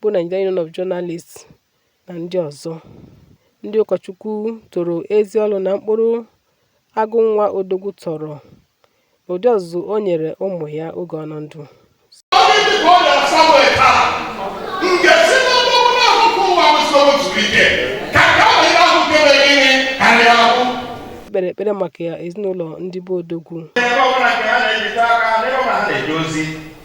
bụ Nigerian Union of Journalists na ndị ọzọ. Ndị ụkọchukwu toro ezi ọrụ na mkpụrụ Agụnwa Odogwu tọrọ n'ụdị ọzụzụ o nyere ụmụ ya oge ọ nọ ndụ. kpere ekpere maka ya ezinụlọ ndị be Odogwu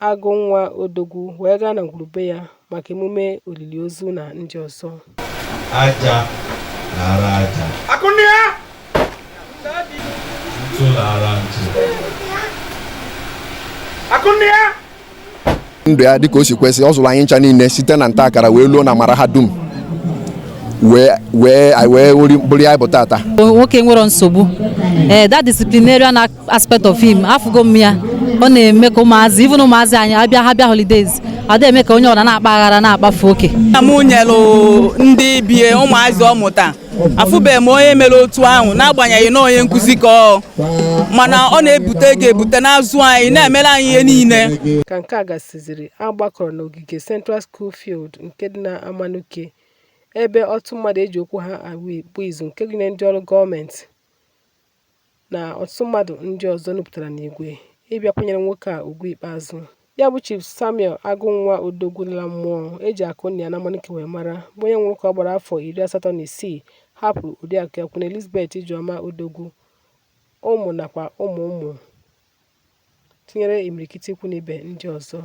Agụnwa Odogwu wee gaa na ngwurube ya maka emume olili ozu na ndị ọzọ aja naara aja Akụnnịa! ntụ naara ntụ Akụnnịa! ndụ ya dịka o si kwesị ọ zụrụ anyị ncha niile site na nta akara wee luo na mara ha dum wee wee anyị wee wụri- bụrụ ihe anyị bụ tata nwoke nwere nsogbu ee that disciplinarian act aspect of him afụgo m ya ọ na-eme ka ụmụazị even ụmụazị anyị abịa ha bịa holidays ada eme ka onye ọra na-akpa aghara na-akpafu oke nna m nyelụ ndị bie ụmụazị ọ mụta afụbeghị m onye mere otu ahụ n'agbanyeghị na onye nkụzi ka ọ mana ọ na-ebute ego ebute n'azụ anyị na-emere anyị ihe niile ka nke a gasịziri a gbakọrọ n'ogige Central School Field nke dị na Amanuke ebe ọtụtụ mmadụ eji okwu ha agba izu nke gụnyere ndị ọrụ gọọmenti na ọtụtụ mmadụ ndị ọzọ nupụtara n'igwe ịbịa kwanyere nwoke a ugwu ikpeazụ. Ya bụ Chief Samuel Agụnwa Odogwu lara mmụọ eji Akụnnịa na Amanuke wee mara bụ onye nwụrụ ka ọ gbara afọ iri asatọ na isii hapụrụ Oriakụ ya Queen Elizabeth Ijeọma Odogwu ụmụ nakwa ụmụ ụmụ. tinyere imirikiti ikwu na ibe ndị ọzọ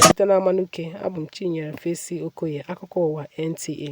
site na Amanuke abụ m Chinyere Fesi Okoye akụkọ ụwa NTA